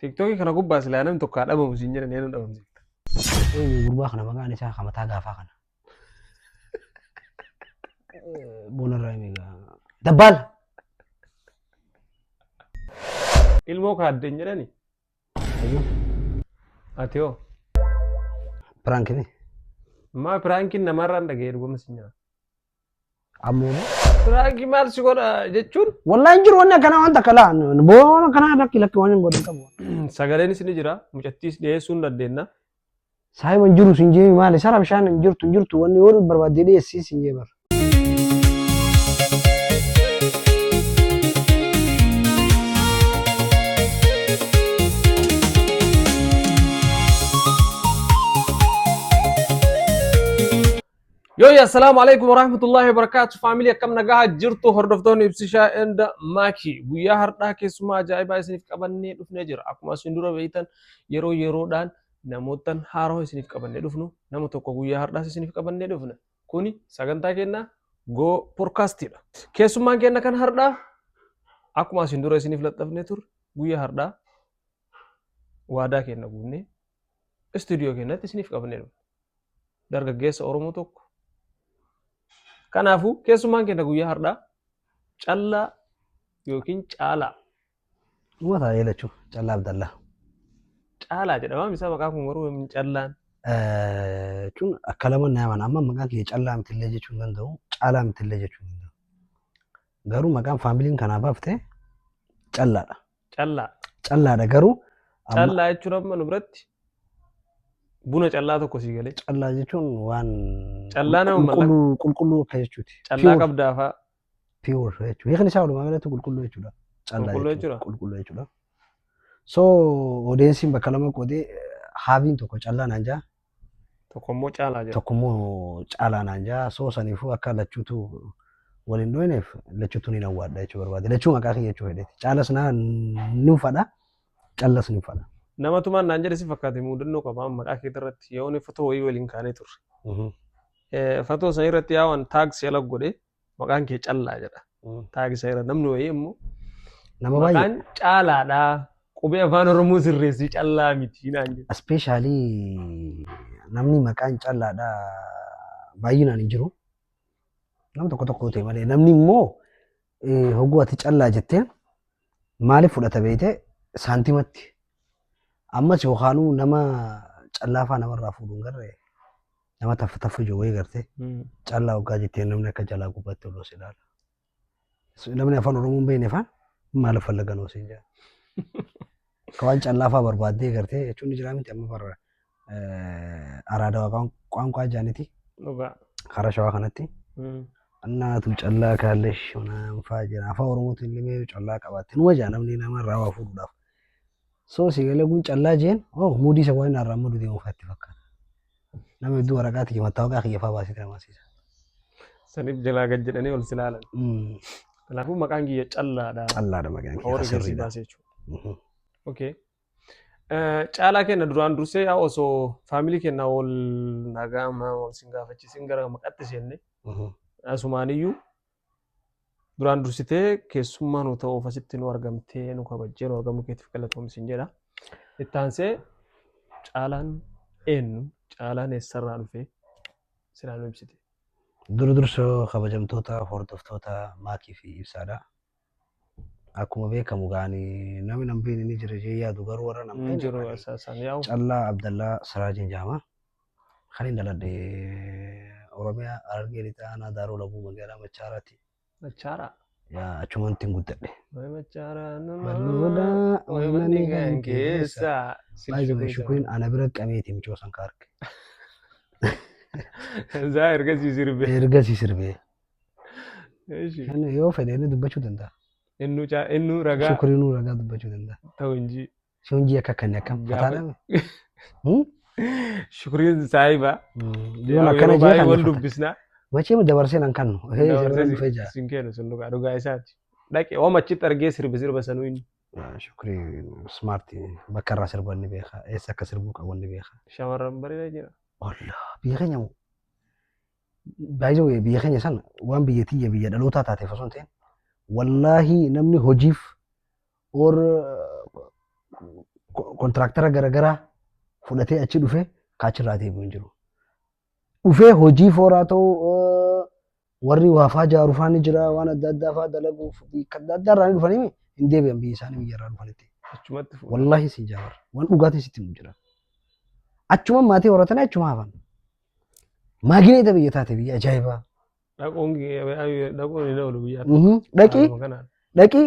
Tiktokii kana gubbaa silaa namni tokko haa dhabamu siin jedhan eenyu dhabamsiifta. Eenyu gurbaa kana maqaan isaa kan mataa gaafaa kana. Boonarraa himi egaa. Dabbaal! Ilmoo kaadden jedhani. Ati hoo Piraanki mi? maa piraankiin namarraan dhaga'ee dhuguma siin jedhan. Ammoo Piraanki maal si godha jechuun wallahi hin jiru wanni akkanaa waan takka laa boo waan akkanaa lakki lakki waan hin godhin qabu. sagaleenis ni jira mucattiis dhiyeessuu hin dandeenya. Saahiba hin jiru sin jeemi maali sara bishaan hin jirtu hin jirtu wanni yoo barbaadde dhiyeessii sin jee bara. Yooyi assalaamu alaikum warahmatullahi wabarakaatu faamilii akkam nagaha jirtu hordoftoonni ibsishaa enda maaki guyyaa hardhaa keessumaa ajaa'ibaa isiniif qabannee dhufnee jira akkuma isin dura beeytan yeroo yeroodhaan namootan haaroo isiniif qabannee dhufnu nama tokko guyyaa hardhaas isiniif qabannee dhufna kuni sagantaa keenya go porkaastidha keessummaan keenya kan hardhaa akkuma isin dura isiniif laxxafnee turre guyyaa hardhaa waadaa keenya guunnee istuudiyoo keenyatti isiniif qabannee dhufna dargaggeessa Oromoo tokko. Kanaafuu keessummaan keenya guyyaa har'aa callaa yookiin caalaa. Dhuma taa'ee lachuu callaa abdallaa. Caalaa jedhama misaa maqaa kun garuu yoomiin callaan. Jechuun akka lama na yaman amma maqaan kiyya callaa mitillee jechuu hin danda'u caalaa mitillee jechuu hin danda'u. Garuu maqaan faamiliin kanaa baafte callaadha. Callaa. Callaadha garuu amma Callaa jechuun amma nu biratti buna callaa tokko sii galee. callaa jechuun waan Callaa nama mallaqa- qulqulluu qulqulluu akka jechuuti. Callaa Pure- qabdaa fa'aa. pure jechuudha. Hiikni isaa walumaa galatti qulqulluu jechuudha. Callaa Qulqulluu jechuudha. jechuudha? Qulqulluu jechuudha. So odeensiin bakka lama qoodee haaviin tokko callaa naan jaa Tokko immoo caalaa jedha. tokko immoo caalaa naan jaa soo saniifuu akka lachuutu wal hin dhooneef lachuutu ni nawwaadha jechuu barbaade lachuu maqaa kiyya jechuu fedheeti caalas naa ni uffadha callas ni uffadha. Nama tumaan naan jedhe si fakkaate muudannoo qaba amma maqaa keetii irratti yoo inni fatoo wayii waliin kaanee turre. Eh, Fatoo sana irratti yaa'an taaksii ala godhe maqaan kee callaa jedha taagisa irra namni wayii immoo Nama baay'ee maqaan caalaadha qubee afaan oromoo sirreessii callaa miti naan jedha ispeeshaalii namni maqaan callaadha baay'inaan hin jiru. Nam tokko tokko ta'e malee namni immoo eh, hogguu ati callaa jettee maaliif fudhata beekte saantimatti. Ammas yookaanuu nama callaafaa namarraa fuudhuun garree nama taffa taffa jiru wayii garte Mm. callaa hoggaa jettee namni akka jalaa gubbatti oloo si ilaala. So, Namni afaan Oromoo hin beekne faan maal fallagan osoo hin jedhan. Akka waan callaa faa barbaaddee gartee jechuun ni jira miti amma barra araadawaa qaanqaa jaaniti Dhugaa. karaa shawaa kanatti Mm. annaatu callaa kaallee shonaan faa jira afaan Oromootiin illee callaa qabaatte numa jaa namni nama irraa waa fuudhuudhaaf. So si galee kun callaa jeen oh muudii isa waan irraa mudu deemu faatti fakkaata. Nama hedduu waraqaa tiyya mataa waqaa kiyya fa'aa baasee diraamaasiisa. Saniif jalaa gad jedhanii ol si ilaalan. Kanaafuu maqaan kiyya callaadha. Callaadha maqaan kiyya. Horii keessi baasee jechuudha. Okay. Caalaa kenna duraan dursee yaa osoo faamilii kenna ol nagaa maa ol sin gaafachiisin gara maqatti seenne asumaaniyyuu Duraan dursitee keessummaa nu ta'uuf asitti nu argamtee nu kabajjee nu argamuu keetiif galatoomi siin jedha. Itti aansee caalaan eenyu caalaan eessarraa dhufee silaa nu ibsite. Dura dursa kabajamtoota hordoftoota maakii fi ibsaadha. Akkuma beekamu gaani namni nambiin inni jira jee yaadu garuu warra Hin nambiin jiru isaanii isaan yaa'u. Callaa Abdallaa Siraajiin jaama. Kan hin dhaladhe Oromiyaa Harargee Lixaa Aanaa Daaroo Labuu Magaalaa Machaaraati. Machaara. Yaa achumaan ittiin guddadhe. Way machaara nama. Malloodha, Way manni manni kan kan keessa. Baay'ee jiru shukuriin ana bira qabeeti mucoo san ka arge. Zaa ergasii sirbee. Ergasii sirbee. Eeshi. Kan yoo fedhe inni dubbachuu danda'a. Innu caa innu ragaa Shukuriinuu ragaa dubbachuu danda'a. ta'u inji. Sun ji'a akka kan akkam Gaafa- fataadha. Hmm? Shukriin saahiba. Yoon akkana jee kan wal fata. dubbisna. Macheem dabarsee nan kannu. Hee isa bira dhufee jaa. Sin kennu sun dhugaa dhugaa isaati. Dhaqe waan achitti argee sirbi sirba sanuu inni. Shukri smart bakka irraa sirban ni beeka. Eessa akka sirbuu qabu ni beeka. Shamarran bareeda jira. Olla biyya keenya moo? Baay'ee wayii biyya keenya sana waan biyya tiyya biyya dhalootaa taateef osoo hin ta'in wallaahi namni hojiif or kontiraaktara garagaraa fudhatee achi dhufee kaachirraa deebi'u hin jiru. Dhufee hojii fooraa ta'uu eh, warri waafaa jaaru faa ni jira waan adda addaa faa dalaguuf biyya adda addaa irraa ni dhufanii hin deebi'an biyya isaanii biyya irraa dhufanitti. Achumatti fuudha. Wallaahi siin jaabar waan dhugaatiin sitti himu jira. Achuma maatii horatanii achuma hafan. Maagineeta biyya taate biyya ajaa'ibaa. Dhaquun dhaquun hin oolu biyyaa. Mhm. Dhaqii Haaluma kanaan. dhaqii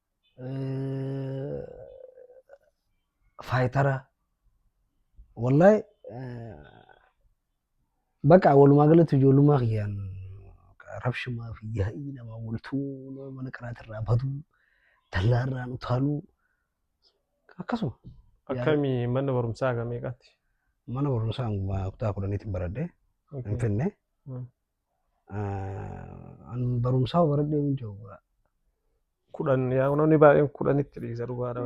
faayitara wallahi baqa walumaa galatti ijoollummaa kiyyaan rabshumaa fi yaa'ii namaa waltuu nama mana qaraatirraa baduu dallaarraan utaaluu akkasuma Akkami mana barumsaa hanga meeqaatti? mana barumsaa hanga kutaa kudhaniitiin baradhee Finfinnee Mm. An barumsaa baradhee hin jiru. kudhan yaa namni baay'een kudhanitti dhiisa dhugaa dha.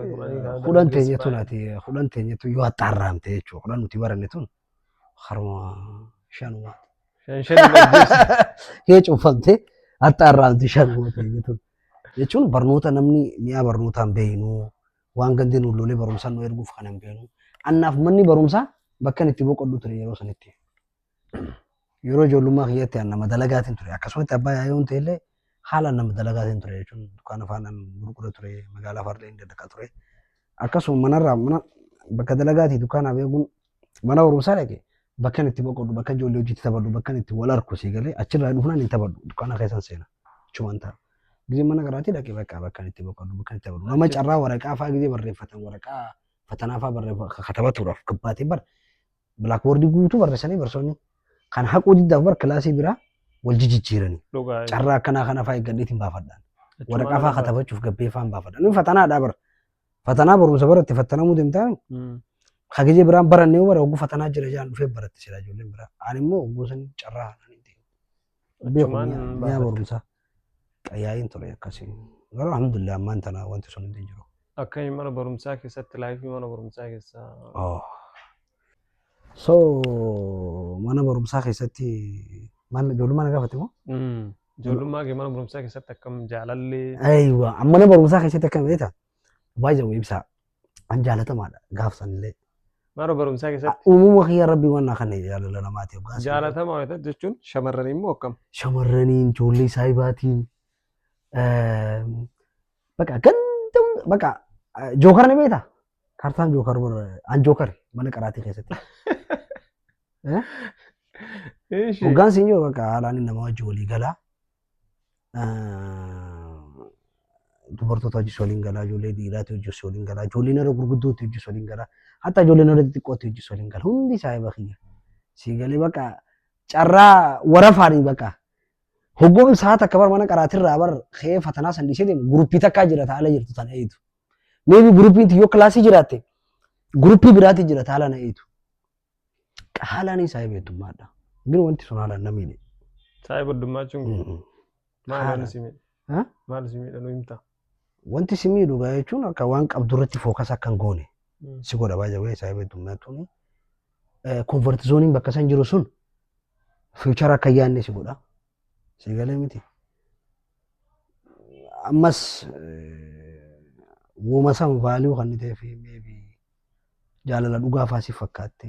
Kudhan teenya tun ati kudhan teenya tun yoo haxxaarraamte jechuudha. Kudhan nuti baranne tun haruma shanuma. Shan shan Yoo cuffamte haxxaarraamte shanuma teenya tun. Jechuun barnoota namni mi'aa barnootaan beeknu waan gandi nu lolee barumsaan nu erguuf kan hin beeknu. Annaaf manni barumsaa bakka inni itti boqodhu ture yeroo sanitti. yeroo ijoollummaa kiyyatti an nama dalagaatiin ture akkasumatti abbaa yaayoon ta'ellee haala nama dalagaatiin ture jechuun dukkaana faana gurgura ture magaalaa faarlee hin dadhaqa ture akkasuma manarraa mana bakka dalagaatii dukkaanaa beekuun mana barumsaa dhaqe bakkan itti boqodhu bakka ijoollee hojiitti taphadhu bakkan itti wal arku sii galee achirraa dhufnaan hin taphadhu dukkaana keessan seena chuman ta'a. Gizee mana garaatii dhaqe bakka bakkan itti boqodhu bakkan itti taphadhu nama carraa waraqaa fa'aa gizee barreeffatan waraqaa fatanaa fa'aa barreeffatan katabatuudhaaf gabbaatee bar Bilaakboordii guutuu barreessanii barsoonni kan haquu diddaaf bar kilaasii biraa wal jijjiiranii. Dhugaa. Carraa akkanaa kana fa'aa eeggadheetiin baafadhaan. Waraqaa fa'aa katabachuuf gabbee fa'aan baafadhaan. Inni fatanaadhaa bara. Fatanaa barumsa baratti fattanamuu deemtaa hagijee biraan barannee bara hogguu fatanaa jira jedhan dhufee baratti sila ijoolleen biraa. Ani immoo hogguu san carraa beeku Achumaan mi'a- mi'a baafatte. barumsaa qayyaa'iin ture akkasiin garuu alhamdulillah ammaan tana wanti sun hundi hin jiru. Akka inni mana barumsaa keessatti laayifii mana barumsaa keessaa Oh. So mana barumsaa keessatti mana ijoollummaa na gaafate moo? Mm. ijoollummaa kee mana barumsaa keessatti akkam jaalallee Aywa mana barumsaa keessatti akkam beekta? Baay'ee ibsaa An jaalatamaadha gaaf sanillee. Mana barumsaa keessatti Uumama kiyya rabbi waan naa kenne jaalala namaatiif gaaf sanillee. jaalatama wayita jechuun shamarran immoo akkam. shamarraniin ijoollee saayibaatiin baqa ganda baqa jookar ni beekta kaartaan jookar an jookar mana qaraatii keessatti Ishi. hoggaan siin jiru baqa haalaan nama wajji walii galaa dubartoota hojii waliin galaa, ijoollee dhiiraatu hojii waliin galaa, ijoolleen irra gurguddootti hojii waliin galaa, hatta ijoolleen irra xixiqqootti hojii waliin galaa. Hundi isaa eeba kiyya. Sii galee baqa carraa warafaanii baqa. Hoggoon sa'a takka bar mana qaraatirraa bar kee fatanaa san dhiisee deemu guruppii takkaa jira taa'ala jirtu tana eeytu. Meebi guruppiin yoo kilaasii jiraatte guruppii biraatti jira taa'ala na eeytu. Haalaanis saahiba heddummaadha. Gin wanti sun haalaan namni ni. Saahiba heddummaachuu hin jiru. Maal Haala. waan si miidha? Ha? Maal si miidha nu himta? Wanti si miidhu gaa jechuun akka waan qabdu irratti fookas akka hin goone Mm. si godha baay'ee baay'ee saahiba heddummaatuun. Konvertizooniin bakka san jiru sun fiichara akka hin yaadne si godha. Si galee miti. Ammas eh, wooma san vaaliyuu kan ta'eef meebi Jaalala dhugaa faa si fakkaatte.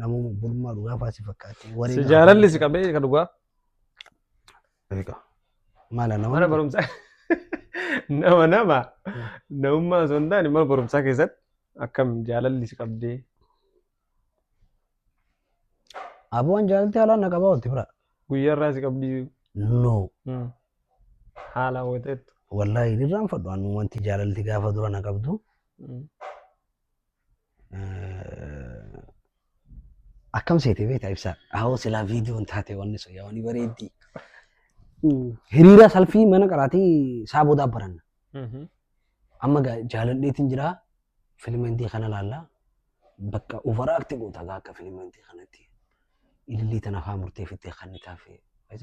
Namuma burmaa dhugaa faa si fakkaatte. Wareen Si jaalalli si qabee ka dhugaa. Egaa. Maala nama. Mana barumsaa nama nama namummaa osoo hin taane mana barumsaa keessatti akkam jaalalli si qabdee. Abuwaan jaalalti haalaan na qabaa olti bira. Guyyaarraa si qabdii. No. Mm. Haala hawwateettu. Wallaahi irraanfadhu anu wanti jaalalti gaafa dura na qabdu. Akkam seete beektaa ibsaa? Ahoo silaa viidiyoon taate wanni sun yaa wanni bareeddii. Hiriira salfii mana qaraatii isaa boodaa baranna. Amma gaa jaaladheetiin jiraa filima hindii kana laallaa. Bakka overact goota gaa akka filima intii kanatti ilillii tana haa murteefittee kan taafee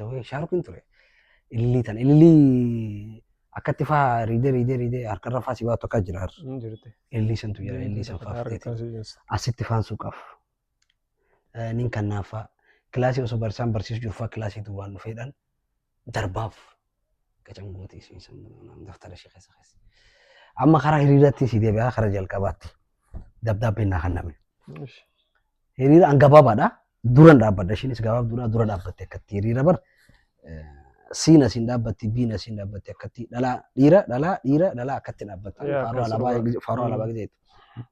wayii shaarukin ture ilillii tana ilillii akkatti faa riidee riidee riidee harkarra faa si baatu akka jira har'a. Hin jirti. ilillii santu jira ilillii san faa fudhate Harkaan si jirsa. asitti faan suuqaaf nin kannaafaa kilaasii osoo barsiisaan barsiisu jiru faa kilaasii duwwaan dhufeedhaan darbaaf gacan gootee isheen sun daftara ishee keessa keessa. Amma karaa hiriiratti si deebi'aa karaa jalqabaatti dabdaabbeen naa kenname. Ishi. Hiriira an gabaabaadha. Duran dhaabbadha. Isheenis gabaabduudha. Dura dhaabbatte akkatti hiriira bar. eh, Siin asiin dhaabbatti, biin asiin dhaabbatti akkatti dhalaa dhiira, dhalaa dhiira, dhalaa akkatti dhaabbata. Yaa, Faaruu akkas alaabaa dhugaa. gizee- faaruu Mm. alaabaa gizee.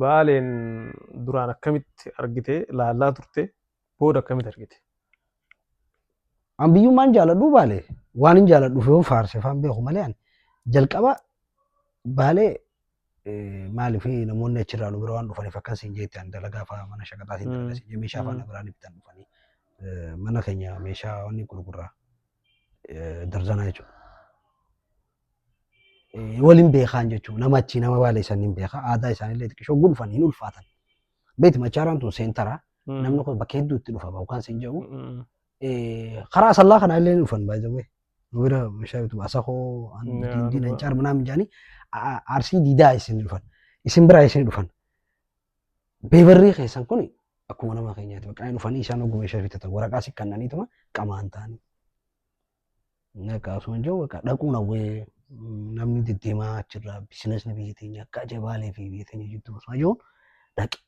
Baaleen duraan akkamitti argite laallaa turte booda akkamitti argite? An biyyummaan jaaladhu baale waan hin jaaladhuuf yoon faarse faan beeku malee ani jalqaba baalee eh, maaliif namoonni achirraa nu bira waan dhufaniif akkas hin jeetti ani dalagaa fa'aa mana shaqaxaatiin Mm. dalagaa siin jee meeshaa fa'aa Mm. na biraan bitan dhufanii eh, mana keenya meeshaa wanni gurgurraa eh, darzanaa jechuudha. waliin beekaan jechuudha. Nama achii nama baalee san hin beeka. Aadaa isaaniillee xiqqishoo gulfan hin ulfaatan. Beeti machaaraan tun seentara. Namni kun bakka hedduu itti dhufa bahu kan sin jedhu. Karaa asallaa kana illee hin dhufan baay'ee. Nu bira meeshaa bitu asakoo, dindiin, ancaar minaamin jedhanii arsii diidaa isin dhufan. Isin biraa isin dhufan. Beebarrii keessan kun akkuma nama keenyaati. Bakka dhufanii isaan oguu meeshaa bitatan waraqaa si kannaniituma qamaan ta'anii. Naqa osoo hin jiru bakka dhaquun hawwee namni deddeemaa achirraa biizinasni biyya teenya akka ajabaalee fi biyya teenya jidduu osoo jiru dhaqe.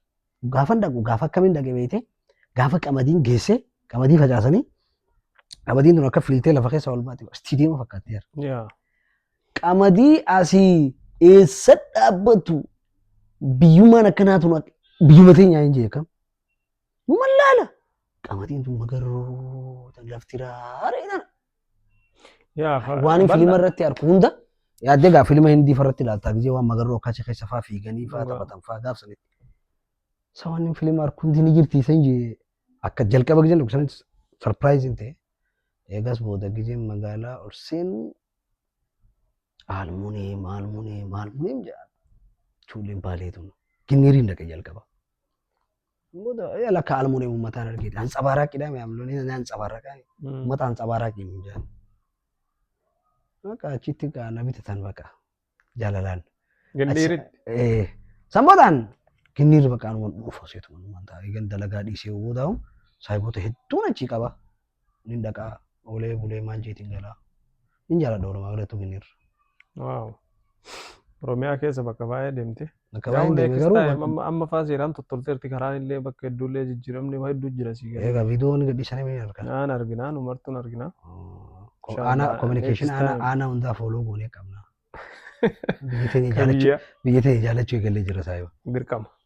Gaafan dhaqu gaafa akkamiin dhaqe beekte gaafa qamadiin geesse qamadii facaasanii qamadiin tun akka fiiltee lafa keessa ol baate istiidiyeema fakkaatteera. Yaa. Qamadii asii eessa dhaabbatu biyyummaan akkanaa tun biyyuma teenyaa hin jeekam. Numan laala. Qamadiin tun magarroo tan lafti raaree tana. Yaa fa- Waan hin bal'aa. filima irratti arku hunda yaaddee gaa filima hindii farratti ilaaltaa gisee waan magarroo akkacha keessa faa fiiganii faa Dhugaa. taphatan faa gaafsanitti. Isa waan hin filima arku hundi ni jirti isa hin jee akka jalqaba giseen dhugu sanis sarpiraayiziin ta'e. Eegas booda giseen magaalaa ol seenu aalmunee maalmunee maalmunee jedha. Chuuleen baalee tun ginniiriin dhaqe jalqaba. Booda yaa lakka almuun eemu mataan argite. Hansabaaraaqidha mee amloon inni hansabaaraaqaa. Mata hansabaaraaqii hin jedhan. Akka achitti gaa na bitatan baqa jaalalaan. Gindhiiritti. Eh, San boodaan ginniirri baqa anumaan dhufa seetuma anumaan taa'ee gan dalagaa dhiisee booda saayibota hedduun achii qaba. Nin dhaqaa oolee bulee maanchiitiin galaa. Nin jaaladha Oromaa galattuu kenneerra. Waaw. Oromiyaa keessa bakka baay'ee deemte. Bakka Garuu baay'een deeme next garuu time amma amma faa seeraan tottolteerti karaan illee bakka hedduu illee jijjiiramni waa hedduu jira sii gala. egaa viidiyoo ni gadhiisanii ni argina. Naan arginaa nu martuun arginaa. Ko- Inshallah, Aanaa kominikeeshinii next aanaa time. aanaa hundaa fooloo goonee qabna. Biyya teenya Kan jaallachuu biyya biyya teenya jaallachuu eegallee jira saayoo. dirqama.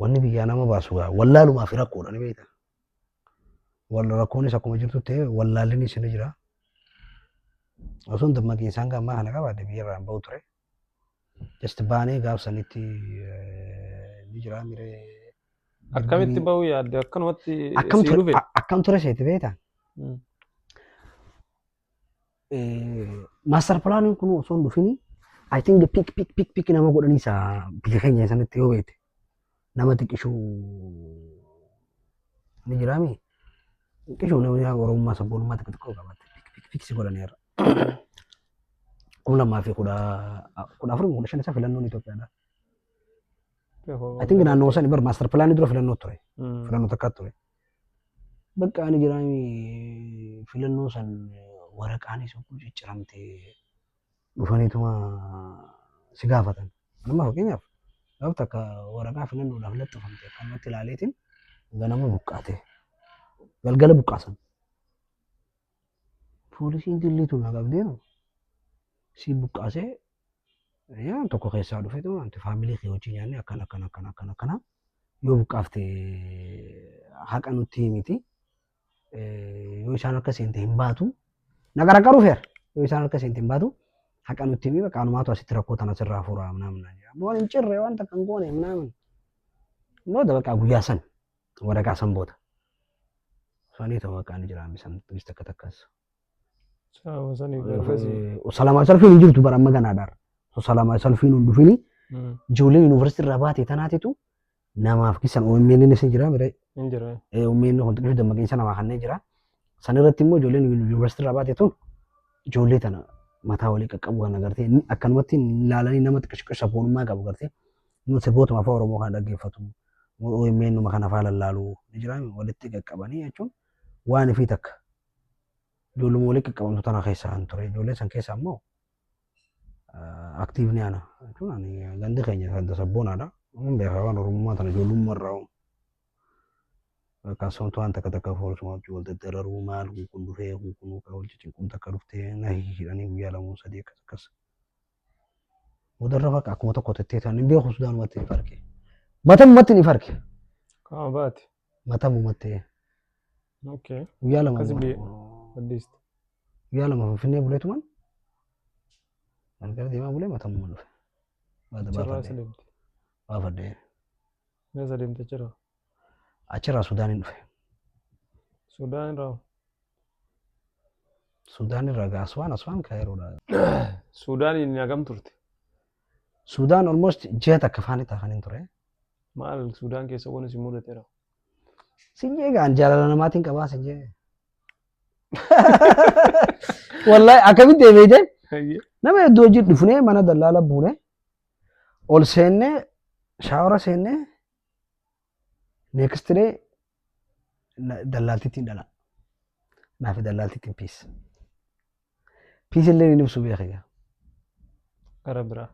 Wanni biyyaa nama baasu gaa wallaalumaa fi rakkoodha ni beekta. Wal rakkoonis akkuma jirtu ta'e wallaallinis ni jira. Osoo dammaqiinsaan gaa ammaa kana qabaadde biyyarraa hin bahu ture. Just baanee gaaf sanitti ni jira miree. Akkamitti bahuu yaadde akkanumatti Akkam sii ture dhufe. akkam ture seeti beekta? Mm. Maastar pilaaniin kun osoo hin dhufini I think pik pik pik pik nama godhanii isa biyya keenya sanatti yoo beekte nama xiqqishuu ni jiraami. Xiqqishuu namni yaa Oromummaa sabboonummaa xiqqoo xiqqoo qabaate pik pik pik si godhanii irra. Kun lamaa fi kudha kudha afur kudha shan isa filannoon Itoophiyaadha. I think naannoo sani bar maastar pilaanii dura filannoo ture. Filannoo takkaa ture. Bakka ani jiraami filannoo san waraqaan isa kun cicciramte dhufaniituma si gaafatan. Amma fakkeenyaaf gaaf takka waraqaa filannoodhaaf laxxafamte akkanumatti ilaaleetiin ganama buqqaate. Galgala buqqaasan. Poolisiin jilliitu na qabdeenu si buqqaasee yaa tokko keessaa dhufeetuma wanti faamilii kee wajjin nyaanne akkana akkana akkana akkana akkana yoo buqqaafte haqa nutti himiti. Yoo isaan harka seente hin baatu. Na gargaaru feer. Yoo isaan harka seente hin baatu. Haqa nutti himi bakka anumaatu asitti rakkoo tana sirraa fuura minaamin naan jedha. Waan hin cirre waan takka hin goone minaamin. Booda bakka guyyaa san waraqaa san booda. Sanii ta'uu bakka ani jiraan bisan takka takkas. Salaama saniif barreessi. Salaama salfiin hin jirtu bara amma ganaa dar. Salaama salfiin hin dhufini. Ijoollee yuunivarsiitii irraa baate tanaatitu namaaf keessan OMN inni isin jira mire Hin jira. OMN kun xiqqoo dammaqinsa namaa kanneen jira. San irratti immoo ijoolleen yuunivarsiitii irraa baate tun ijoollee tana mataa walii qaqqabu kan agartee inni akkanumatti ilaalanii nama xiqqoo sabboonummaa qabu agartee inni sirbootuma afaan Oromoo kana dhaggeeffatu OMN numa kana faa lallaalu ni jira walitti qaqqabanii jechuun waan fi takka. Ijoolluma walii qaqqabamtu tana keessaa hin ture. Ijoollee san keessaa immoo aktiivni ana. Jechuun ani gandi keenya kan tasabboonadha. Amma beekaa waan Oromummaa tana ijoollummaa irraa uumu. Kan soomtu waan takka takka foolsuma wajjin wal daddararuu maal kun kun dhufee kun kun kan wal ciccinquun takka dhuftee na hihidhanii guyyaa lamuun sadii akkas akkas. Boodarra bakka akkuma tokko tettee ta'an hin beeku Sudaanumatti ni farke. Matammatti ni farke. Qaama baate. matamuma ta'e Okay. guyyaa lama Akkasi biyya- booda- Addiisti. guyyaa lama finfinnee buleetuman galgala deemaa bulee matamuma dhufe Baata- Achirraa baafadhe isa deemte. baafadhe Mee isa deemte achirraa. achirraa sudaaniin dhufe Sudaan irraa. sudaan irraa gaa aswaan aswaan kaayiroodha Sudaaniin hagam turte. sudaan almost ji'a takka faanitti hafaniin ture Maal Suudaan keessa waan isin mudateera. Sinjee egaan jaalala namaatiin qabaa sinjee. Wallahi akkamitti eebeeyte Hayyee. nama hedduu hojii dhufnee mana dallaala buune ol seennee shaawara seennee neekistiree na- dallaaltittiin dhalaa naa fi dallaaltittiin piis piis illee ni ibsu beeka gaa Gara biraa.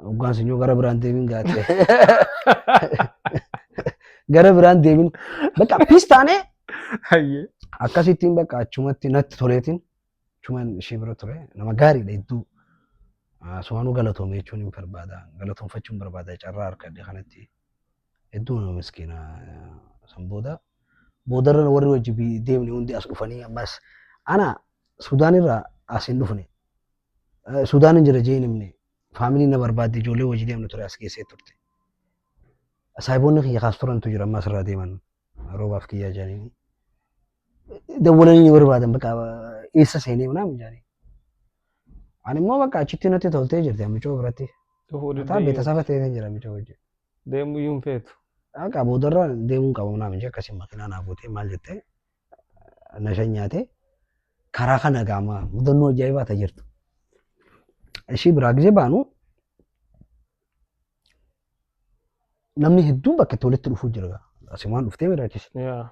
hoggaan sun yoo gara biraan deemin gaatee gara biraan deemin bakka piis taanee Hayyee. akkasittiin bakka achumatti natti toleetiin achumaan ishee bira ture nama gaariidha hedduu Ah, sumaanuu galatoome jechuun hin barbaada galatoomfachuun barbaada carraa harkadhe kanatti Hedduu nama miskiina san booda boodarra warri wajji deemne hundi as dhufanii ammas ana Sudaan irraa as hin dhufne. Sudaan hin jira jee hin himne. Faamilii na barbaadde ijoollee wajji deemne ture as keessee turte. Saahiboonni kiyya kaas turantu jira ammas irraa deeman roobaaf kiyyaa jedhanii. Dawwalanii ni barbaadan bakka eessa seenee naam jedhanii. Ani immoo bakka achitti natti toltee jirti amicoo biratti. Dhufuu Mataa diddee beeta saba ta'ee jira amicoo wajjin. deemuu iyyuu hin feetu. Akka boodarra deemuun qabu naaf hin akkasii makiinaa naa buutee maal jettee na shanyaatee karaa kana gaama mudannoo ajaa'ibaa ta jirtu. Ishii biraa gisee baanu Namni hedduun bakka itti walitti dhufuu jira. Asimaan dhuftee mira achis. Yaa.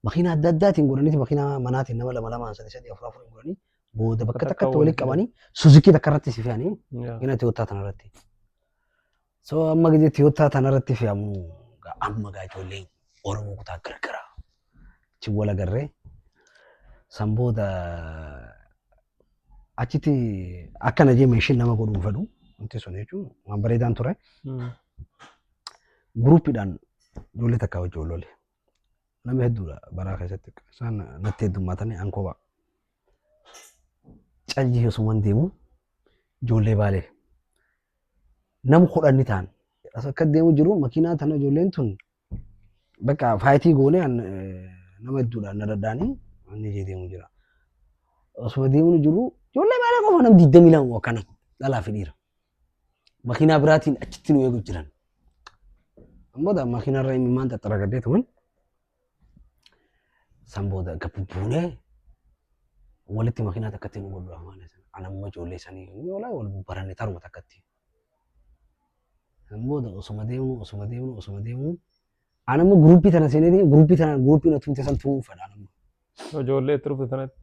Makiina adda addaatiin godhaniiti makiina manaatiin nama lama lamaan sadii sadii afur afur godhanii booda bakka Bakka takkatti walitti walitti qabanii suzikii takka irratti si fe'anii Yaa. gina Tiyootaa tana irratti. So amma gidi Tiyootaa tana irratti fe'amu gaa amma gaa ijoolleen Oromoo kutaa gargaraa. achi wal agarree san booda achitti akka na jee meeshin nama godhuu fedhu wanti sun jechuun waan bareedaan ture guruuppiidhaan ijoollee takkaa wajjin wal lole nama hedduudha baraa keessatti isaan natti heddummaatanii an kophaa calli osuman deemu ijoollee baalee nama kudhan ni ta'an akka deemu jiru makiinaa tana ijoolleen tun Bakka faayitii goonee an, eh, nama hedduudhaan na dadhaanii inni ijee deemu jira. Osuma deemuu jiru ijoollee baalee qofa nam digdamii lama akkana dhalaa fi dhiira. Makiinaa biraatiin achitti nu eegu jiran. Booda makiinaa irra imimmaan xaxxaragadhee tuman. San booda gabbu buunee walitti makiinaa takkatti nu godhu amaana sana. Anamuma ijoollee sanii yoo laa wal baranne taruma takkatti. Kan booda osuma deemnu osuma deemnu osuma deemnu an amma guruppii tana seenee deemu guruppii tana guruppii na tuute san tu'uu fedha amma. Ijoollee itti dhufte sanatti.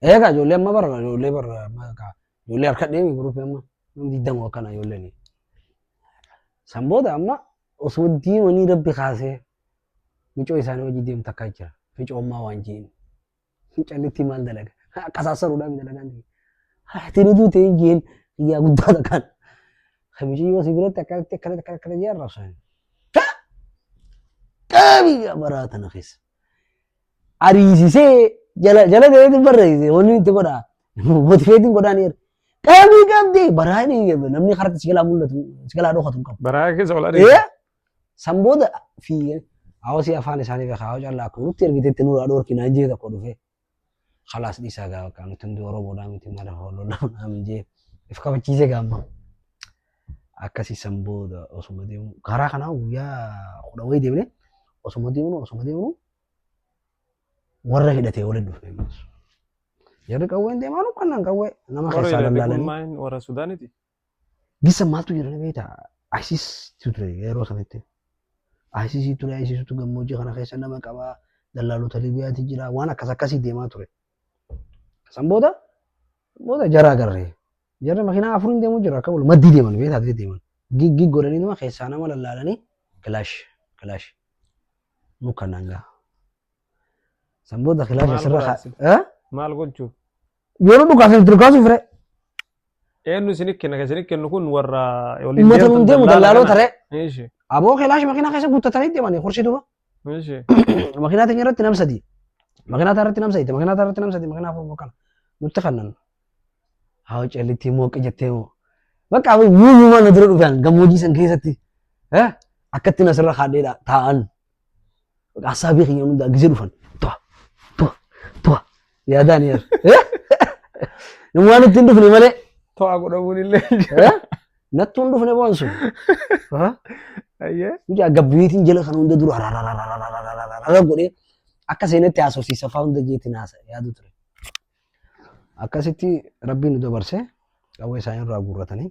Eegaa ijoollee amma bara ijoollee bara amma egaa ijoollee harka deemi guruppii amma nama digdama akkana ijoolleen. San booda amma osuma deemanii rabbi kaasee micoo isaanii wajjin deemu takkaa jira. Ficoo ammaa waan jeeni. Mucallittii maal dalaga? Qasaassaruudhaan dalagaan ta'e. Haati ni duute hin jeen yaa guddaa takkaan. Kamishii yoo si biratti akkanatti akkanatti akkana akkana jee arrabsan. Qabii yaa baraa tana keessa. Ariisisee jala jala ta'ee hin barreesse wanni itti godha. Motiveetiin godhaan eeru. Qabii qabdee baraa dhiige namni karatti si jalaa mul'atu si jalaa dhokatu hin qabu. Baraa keessa ol Eh? adeemu. San booda fi hawasii afaan isaanii beekaa yoo callaa akkuma nutti ergitetti nurraa dhoorki naan jee tokko dhufee. Khalaas dhiisaa gaa bakka nuti hundi Oromoodhaa miti maala hoololaa naan jee if kabachiisee gaamma. Akkasii san booda osuma deemu karaa kanaa guyyaa kudha wayii deemnee osuma deemnu osuma deemnu warra hidhatee waliin dhufne ammas. Jarri qawween deemaanu kannaan qawwee nama Warra keessaa hidhate kun lallaalanii. maal warra Sudaaniti? Gisa maaltu jira beekta? ISIS ture yeroo sanitti. ISIS ture ISIS tu gammoojjii kana keessa nama qaba. Dallaalota Libiyaati jira. Waan akkas akkasii deemaa ture. San booda booda jaraa garree. Jarri makiinaa afuriin deemuu jira akka wal maddii deeman beekta adii deeman. Gig gig godhanii nama keessaa nama lallaalanii kilaash kilaash nu kanaan gaha. San booda kilaash Maal asirra godhaa haa. isin? Eh? Maal gochuu? Yeroo dhukaasa itti dhukaasuuf ree. Eenyu isin kenna kan isin kennu kun warra waliin Uummata deemtan nuun deemu dallaala dallaaloota kana. ree. Ishi. Aboo kelaash makiinaa keessa guuttatanii deemanii horsii duuba. Ishi. Makiinaa teenya irratti nam sadii. Makiinaa taa irratti nam sadii. Makiinaa taa irratti nam sadii. Makiinaa afur kana. Nutti kannan. Haa callittii mooqqi jettee moo. Bakka aboo yuuyuumaa na dura dhufan gammoojii san keessatti. Eh? Akkatti nasirra kaadheedha taa'an. Haasaa beekan yeroo hundaa gizee dhufan. Tuwa, tuwa, tuwa. Yaadaan yaa. Namni waan ittiin dhufne malee. To'aa godhamuun illee jira. eh, Nattuu hin dhufne boon sun. Ah, Ayyee. Mucaa gabbiitiin jala kan hunda dura harararararararararara godhee akka seenetti haasofsiisa fa'aa hunda jeetiin haasa yaadu ture. Akkasitti Rabbiin nu dabarse qawwee isaanii irraa guurratanii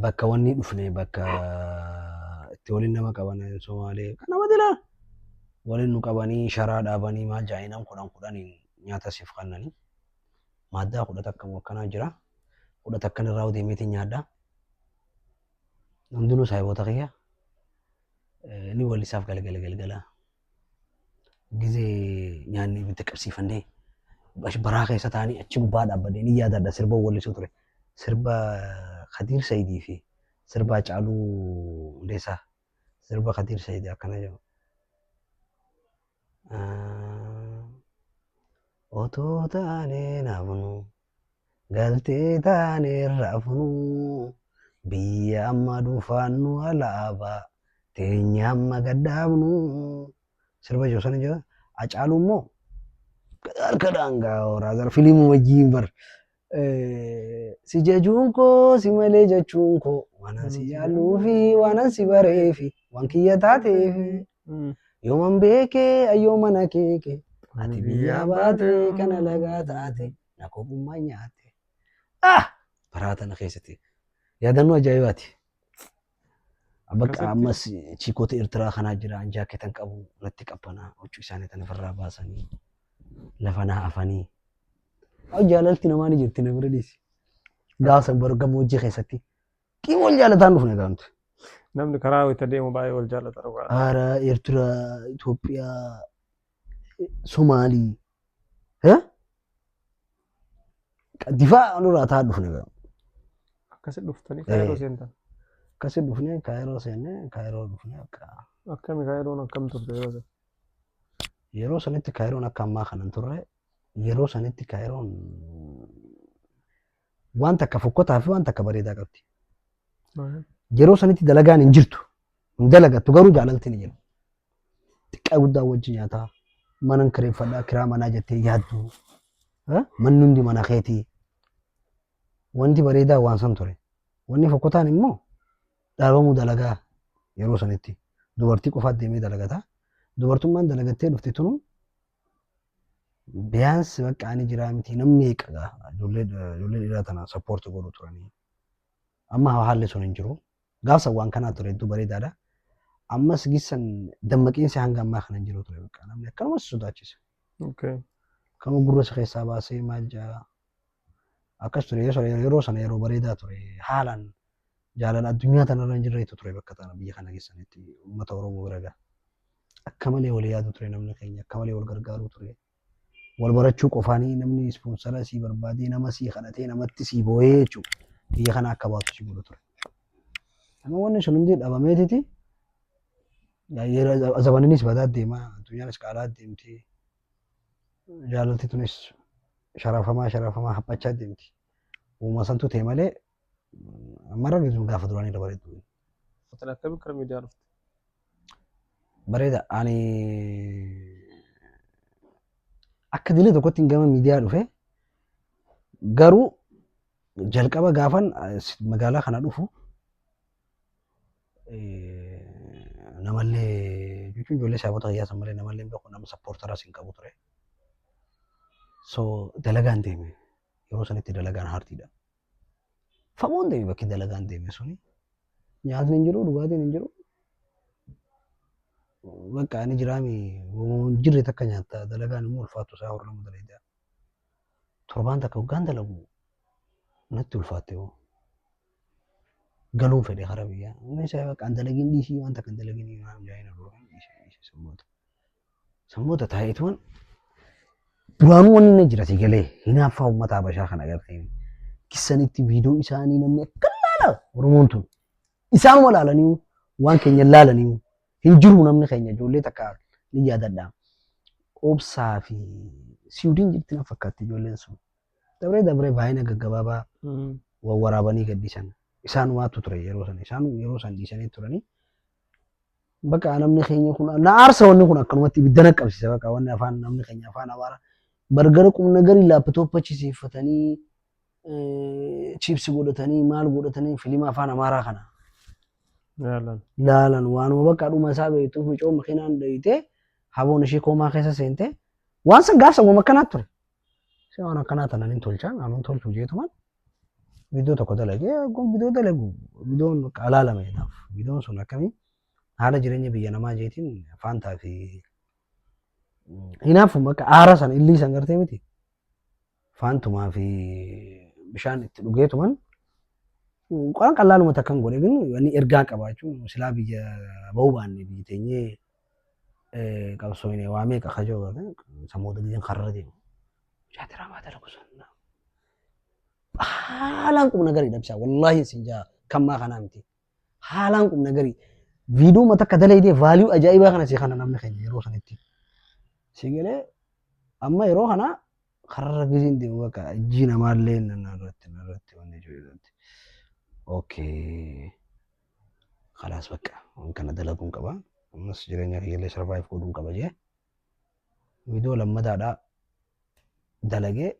bakka wanni dhufne bakka itti waliin nama qaban Somaalee kan nama dilaa waliin nu qabanii sharaa dhaabanii maal jaa'inaan kudhan kudhaniin nyaata siif kannanii maaddaa kudha takka moo akkanaa jira kudha takkan irraa deemeetiin nyaadha hundinuu saayiboota kiyya ni walisaaf galgala galgala. Gizee nyaanni ibidda qabsiifannee baraa keessa taa'anii achi gubbaa dhaabbadee ni yaadadha sirba wallisuu ture. Sirba Kadiir Sayidii fi sirba Hacaaluu Hundeessaa. Sirba Kadiir Sayidii akkana jedhu. Otoo taanee naafnu Galtee taaneerra funuu biyya amma dhufaannu alaabaa teenya amma gadhaabnu sirba jiru sana jira. Acaaluun immoo harka daangaa horaa gara filimuu wajjin bar. Si jajuun koo si malee jechuun koo waanan si jaalluufi waanan si bareefi waan kiyya taateefi. Mm. Yooman beekee ayyoo mana keeke. Ati biyyaa baate kan alagaa taate na kophummaa nyaate. Ah! Baraa tana keessatti yaadannoo ajaa'ibaati. Bakka Akkasitti. ammas chiikota Eertiraa kanaa jira anjaa keetan qabu natti qabbanaa huccuu isaanii tana ofirraa baasanii lafa naa afanii. Haa jaalalti namaa ni jirti na bira dhiisi. Gaafa san bara gammoojjii keessatti Qiim wal jaalataan dhufne egaa nuti. Namni karaa wayita deemu baay'ee wal jaallata dhugaa. Haara, Eertira, Itoophiyaa, Somaalii. Eh? Difaa nurraa taa dhufne egaa. Akkasi dhuftanii Eh. kaayiroo seentan. Akkasi dhufne kaayiroo seenne kaayiroo dhufne akka. Akkami kaayiroon akkam turte yeroo sana? Yeroo sanitti kaayiroon akka ammaa kana hin turre yeroo sanitti kaayiroon waan takka fokkotaa fi waan takka bareedaa qabdi. Yeroo sanitti dalagaan hin jirtu. Hin dalagattu garuu jaalalti ni jira. Xiqqaa guddaa wajji nyaataa. Manan kireeffadhaa kiraa manaa jettee yaaddu. Eh? Manni hundi mana keetii. Wanti bareedaa waan san ture. Wanni fokkotaan immoo dhaabamuu dalagaa yeroo sanitti. Dubartii qofaat deemee dalagata. Dubartummaan dalagattee dhufte tunu Biyaansi bakka ani jiraa miti namni meeqa gaa ijoollee ijoollee dhiiraa tana sappoorti godhu turanii. Amma haalli sun hin jiru. Gaafsan waan kanaa ture hedduu bareedaadha. Ammas gissan dammaqiinsi hanga ammaa kana hin jiru ture bakka namni akkanuma si sodaachisa. Okay. Kanuma gurra isa keessaa baasee maal jaa Akkas ture yoo sana yeroo sana yeroo bareedaa ture haalaan jaalala addunyaa tanarra hin jirreetu ture bakka tana biyya kana keessanitti uummata Oromoo bira ga'a. Akka malee wal yaadu ture namni keenya akka malee wal gargaaruu ture. Wal barachuu qofaanii namni ispoonsara sii barbaadee nama sii kadhatee namatti sii booyee jechuudha. Biyya kana akka baatu si godhu ture. Amma wanni sun hundi dhabameetiti zabaniniis badaa deema addunyaanis qaalaa deemti. jaalalti tunis sharafamaa sharafamaa haphachaa deemti. Uuma santu ta'e malee mara gidduu gaafa duraanii irra bareedu. Hotel akkamiin kara miidiyaa dhufte? Bareeda ani akka dilee tokkotti gama miidiyaa dhufe garuu jalqaba gaafan magaalaa kana dhufu Namallee jechuun ijoollee saabota fayyaa san malee namallee hin beeku nama sappoortaras hin qabu ture. So dalagaan deeme yeroo sanitti dalagaan haartiidha. Fagoon deeme bakki dalagaan deeme suni nyaatni hin jiru dhugaatiin hin jiru. Bakka ani jiraami hin jirre takka nyaatta dalagaan immoo ulfaattu isaa horlamu dalaga. Torbaan takka hoggaan dalagu natti ulfaatte hoo. galuun fedhe karaa biyyaa. Inni isa bakka an dalagin dhiisii wanta kan dalagin himaa jaayina birookan dhiisee dhiisee sammoota. Sammoota taa'eetuman duraanuu wanni inni jira si galee hinaaffaa uummata Habashaa kana agartee kissanitti viidiyoo isaanii namni akka laala Oromoon tun. Isaanuma laalanii waan keenya laalanii hin jiru namni keenya ijoollee takka ni yaadadha. Obsaa fi siwudiin jirti na fakkaatti ijoolleen sun. Dabree dabree baay'ina gaggabaabaa wawwaraabanii gadhiisan. Isaanumaatu ture yeroo sana. Isaan yeroo sana dhiisanii turanii. Bakka namni keenya kun na aarsa wanni kun akkanumatti ibidda na qabsiisa bakka wanni afaan namni keenya afaan amaara bargara qubna garii laapitooppa chisiifatanii chiipsi godhatanii maal godhatanii filima afaan amaaraa kana Yaalan. laalan waanuma bakka dhuma isaa beektu mucoo makiinaan dheeyitee haboon ishee koomaa keessa seentee waan san gaafsan waan akkanaa ture. Isa waan akkanaa tana nin tolcha aman tolchu jeetuman viidiyoo tokko dalagee gon viidiyoo dalagu viidiyoon bakka alaalame jedhaaf viidiyoon sun akkamii haala jireenya biyya namaa jeetiin faantaa fi hinaafu bakka aara san illii san gartee miti faantumaa fi bishaan itti dhugeetuman qoraan qallaaluma takkan godhe gin wanni ergaa qabaachuun silaa biyya bahuu baanne biyyi teenyee qabsoofne waa meeqa kajoo qabne sammuu daliin karra deemu. Mucaa diraamaa dalagu sun haalaan qubna garii dhabsaa wallaahi sin jaa kammaa kanaa miti haalaan qubna garii viidiyoo mata akka dalaydee vaaliyuu ajaa'ibaa kana si kana namni keenya yeroo sanitti si galee amma yeroo kana Karra rakkisiin deemu bakka ijji namaallee narratti narratti wanni jirutti. Okay. Kalaas bakka waan kana dalaguun qaba. Ammas jireenya kiyyallee sarvaayiv godhuun qaba jee. Viidiyoo lammataadhaa dalagee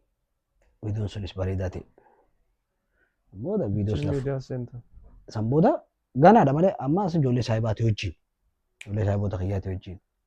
viidiyoon sunis bareedaa ta'e. Booda viidiyoo Social sanaaf media center. san booda ganaadha malee amma as ijoollee saayibaati wajjin. Ijoollee saayiboota kiyyaati wajjin.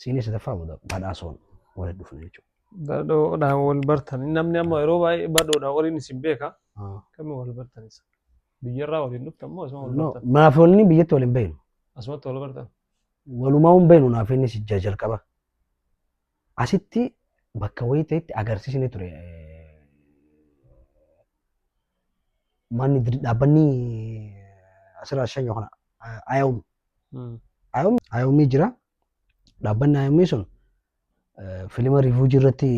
Siinii sadaffaa booda badhaasoon walitti dhufne jechuudha. Badhoodhaan wal bartan. Namni amma yeroo baay'ee badhoodhaan waliin isin beeka. Ah. Akkamiin wal bartan isa? Biyyarraa waliin dhuftan moo asuma wal No, bartan? Naafonni biyyatti waliin beeknu. Asumatti wal bartan. Walumaa hin beeknu naafonni si jaa jalqaba. Asitti bakka wayii ta'etti agarsiisni ture. Manni dir- dhaabbanni asirraa shan yookaan ayawmi. Hmm. Ayawmi jira. Dhaabbanni IOM sun filima riifuujii irratti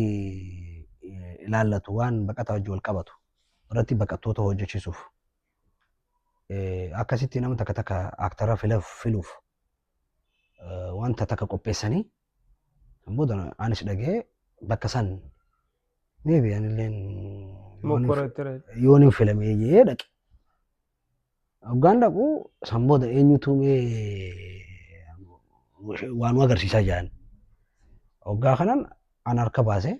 ilaallatu waan baqataa wajjin wal qabatu irratti baqattoota hojjechiisuuf akkasitti nama takka takka aaktara filuuf wanta takka qopheessanii booda anis dhagee bakka san meebi anilleen yoon hin filamee jee dhaqe. Hoggaan dhaqu san booda eenyutu mee waan agarsiisaa jedhan. Hoggaa kanan an harka baase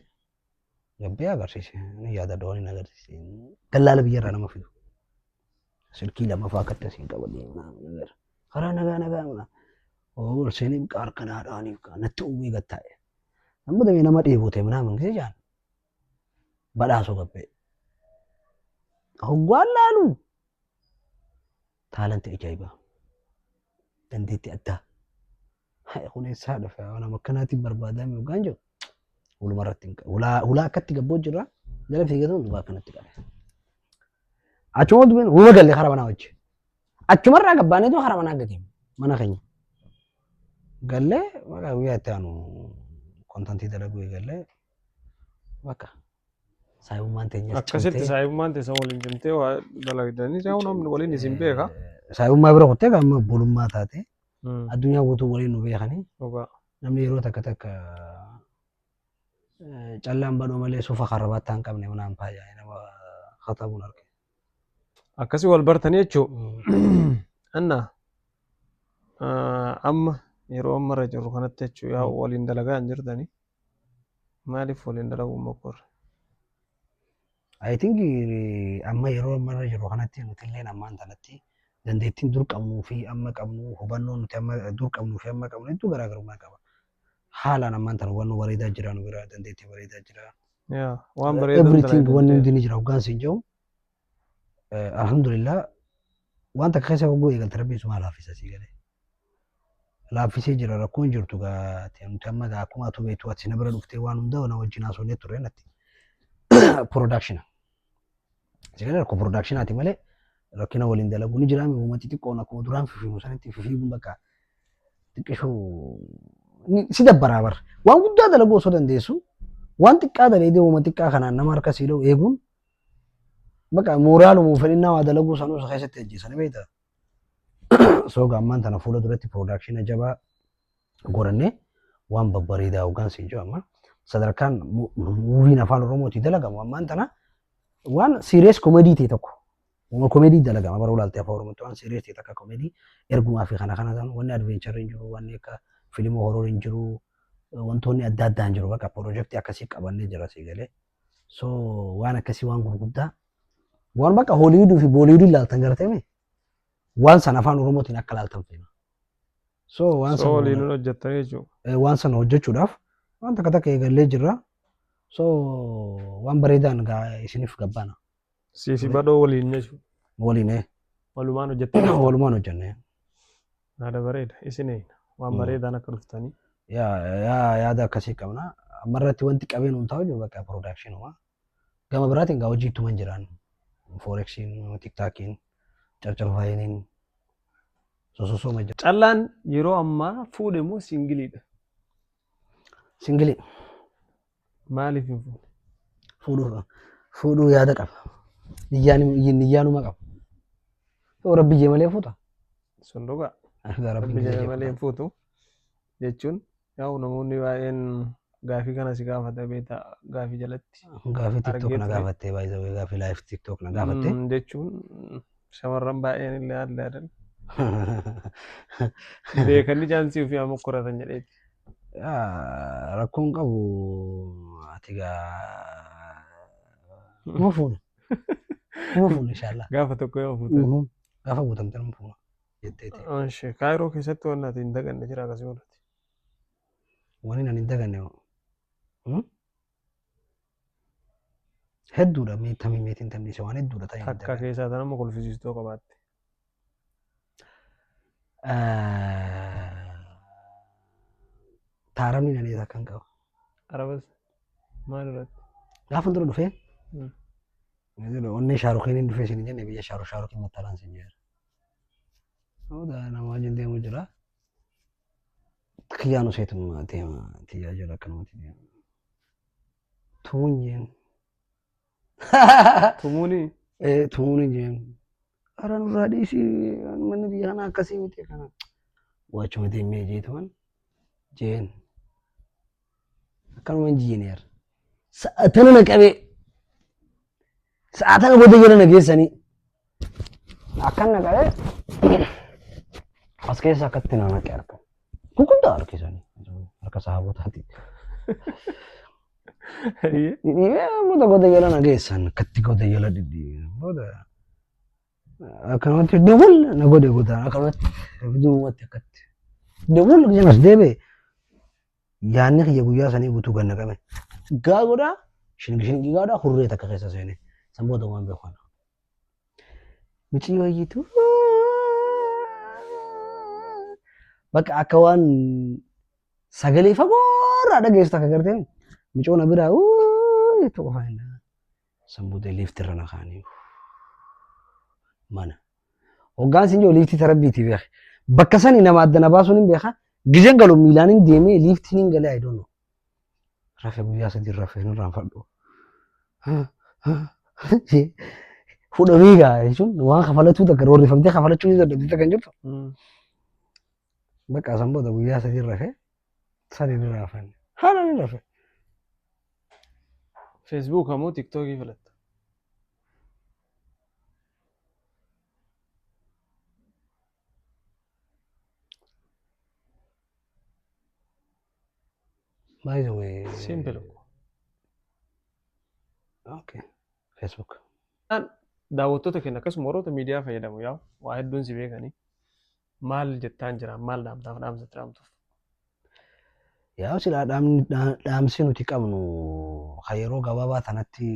gabbee agarsiise. Ni yaada doon hin agarsiise. Dallaala biyyarraa nama fidu. Silkii lamaffaa akka itti asiin qabadee karaa nagaa nagaa mana. Ool seenii biqaa harka naadhaaniif natti uwwee gattaa'e. Amma damee nama dheebote manaa mangise jaan. Badhaasoo Gabbee. Hoggaan laalu taalantii ajaa'ibaa. Dandeettii addaa. Hayi kun eessaa dhufe waan amma akkanaatiin barbaadame hoggaan jiru. Huluma irratti hin qabu. Hulaa hulaa akkatti gabboo jirra. Jala fiigatuun dhugaa akkanatti qabe. Achuma dubbin huma galle karaa manaa wajji. Achumarraa gabbaanee too karaa manaa gadi mana keenya. Gallee maqaa guyyaa itti aanu kontantii dalaguu eegallee Baqa. Saayummaan teenya Akkasitti saayummaan teessa waliin cimtee waa dalagdanii saayuu namni waliin isin beeka. Saayummaa bira kuttee amma obbolummaa taate addunyaa guutuu waliin nu beekanii namni yeroo takka takka callaan badhoo malee suufa karabaattaa hin qabne manaan faayaa nama katabuun arge. Akkasi wal bartanii jechuun anna amma yeroo amma irra jirru kanatti jechuun yaa waliin dalagaa hin jirtanii. Maaliif waliin dalaguun mokkorre? I think eh, amma yeroo amma irra jiru kanatti nuti illee ammaan tanatti dandeettiin dur qabnuu fi amma qabnu hubannoo nuti amma dur qabnuu fi amma qabnu hedduu garaagarummaa qaba. Haalaan ammaan tana hubannoo bareedaa jira nu bira dandeettii bareedaa jira. Yaa waan bareedaa Everything wanni dalagaa hundi ni jira hoggaan siin jedhu eh, alhamdulillah waan takka keessa hogguu eegalte rabbiin suma laafisa sii galee. laaffisee jira rakkoo hin jirtu gaa te- nuti amma gaa akkuma atu beektu ati na bira dhuftee waan hunda na wajjin haasofnee turre natti production sagalee rakkoo production ati malee rakkina waliin dalaguu ni jiraame uuma xixiqqoon akkuma duraan fifiimu sanitti fifiimuun bakka xiqqishuu ni- si dabbaraa bar waan guddaa dalaguu osoo dandeessu waan xiqqaa daleedee uuma xiqqaa kanaan nama harka siiloo eeguun bakka mooraaluma fedhinnaa waa dalaguu sanuu isa keessatti ajjeessan beektaa So gaammaan tana fuula duratti piroodaakshina jabaa godhannee waan babbareedaa hoggaan siin jiru amma sadarkaan mu- muuviin afaan oromootii dalagamu ammaan tana waan siiriyees komedii ta'e tokko waan komedii dalagama bara ulaaltee afaan oromootti waan siiriyees ta'e takka komedii ergumaa fi kana kana ta'an wanni advencharii hin jiru wanni akka filimoo horoor hin jiru wantoonni adda addaa hin jiru bakka piroojeektii akkasii qabannee jira sii galee So waan akkasii waan gurguddaa waan bakka Hooliwuduu fi Booliwuduu ilaaltan gartame waan san afaan Oromootiin akka ilaaltan feena. So waan So waliin san hojjettanii jechuudha. eh, waan sana hojjechuudhaaf waan takka takka eegallee jirra. So waan bareedaan gaa isiniif gabbaana. Siifi badhoo waliin nyachu. Waliin ee. Walumaan hojjettee. Walumaan hojjennee. Yaada bareeda. Isin eegna. Waan bareedaan akka dhuftanii. Yaa yaa yaada akkasii qabna. Amma irratti wanti qabeen hundaa hojjetu bakka production Gama biraatiin gaa hojii ittuman jiraan. Forexiin, tiktaakiin, carcarfaayiniin sososooma jira. Callaan yeroo ammaa fuudhe moo singiliidha? Singilii. Maaliif hin fuune? Fuudhuu qaba. Fuudhuu yaada qaba. Niyyaan niyyaanuma qaba. Yoo rabbi jee malee fuuta. Sun dhugaa. Argaa rabbi Rabbi jedhe malee hin fuutu. Jechuun yaa'u namoonni baay'een gaafii kana si gaafata beektaa gaafii jalatti. Gaafii TikTok na Argeetti. gaafattee baay'ee gaafii live TikTok na gaafattee. Mm, Jechuun Shamarran baay'een illee haadha yaadan. Beekanii chaansii ofii haa mokkoratan jedheeti. Yaa, Rakkoon qabu ati gaa nama fuuna. Nama fuuna inshaallah. Gaafa tokko yoo fuutan. Mhm. Gaafa guutamte nama fuuna. Jetteeti. Oshi, Kaayiroo keessatti waan ati hin daganne jira akkasii godhati. Wani nan hin daganne. Hedduudha mee tamii meetiin tamdhiise waan hedduudha ta'e. Takka keessaa tan amma kolfisiistoo qabaatte. Taaramni nanees akkan qaba. Arabas maal irratti? Gaafa dura dhufee Hmm. onnee shaarukiin hin dhufee siin jenne biyya shaaru shaarukiin mattalaan siin jira. Hooda nama wajjin deemu jira. Kiyyaan useetuma deema tiyyaa jala akkanumatti deema. Tumuun jeen. Tumuuni. Ee tumuun jeen. Hara nurraa dhiisi manni biyya kanaa akkasii miti kana. Waachuma deemee jeetuman jeen. Akkanuma injiineer. Sa'atana na qabee. Sa'a tana booda jala na geessanii. Akkan na qabe as keessa akkatti na naqe harka. Gurguddaa harki isaanii. Harka sahaabotaati. Dhidhiibee booda goda jala na geessan akkatti goda jala dhidhiibee booda akkanumatti dawwal na godhe godaan akkanumatti duubatti akkatti dawwal jedhamas deebi'e Yaanni kiyya guyyaa sanii guutuu ganna qabe. Gaa godhaa shingi shingi gaa godhaa hurree takka keessa seene. San booda waan beeku kana. Micii wayyitu. Bakka akka waan sagalee fagoorraa dhageessu takka gartee micoona biraa uuu jettu qofa hin San booda liifti irra na kaanii. Mana. Hoggaan sin jiru liiftii tarabbiitii beeke. Bakka sani nama adda na baasuun hin beeka. Gizeen galu miilaan hin deemee liiftiin hin galee I don't know. Rafe guyyaa sadii rafe hin irraanfadhu. Fudhamii gaa jechuun waan kafalatuu takka roorrifamtee kafalachuu ni dandeetti takka hin jirtu. Bakka san booda guyyaa sadii rafe San hin hinaafanne. Haalaan hinaafanne. Facebook moo TikTok filatta? By the way. Simple. Okay. Facebook. Daawwattoota keenya akkasuma warroota miidiyaa fayyadamu yaa waa hedduun si beekanii. Maal jettaan jira? Maal dhaamtaaf dhaamsa itti dhaamtuuf? Yaa silaa dhaamni- dhaa- dhaamsi nuti qabnu kan yeroo gabaabaa tanatti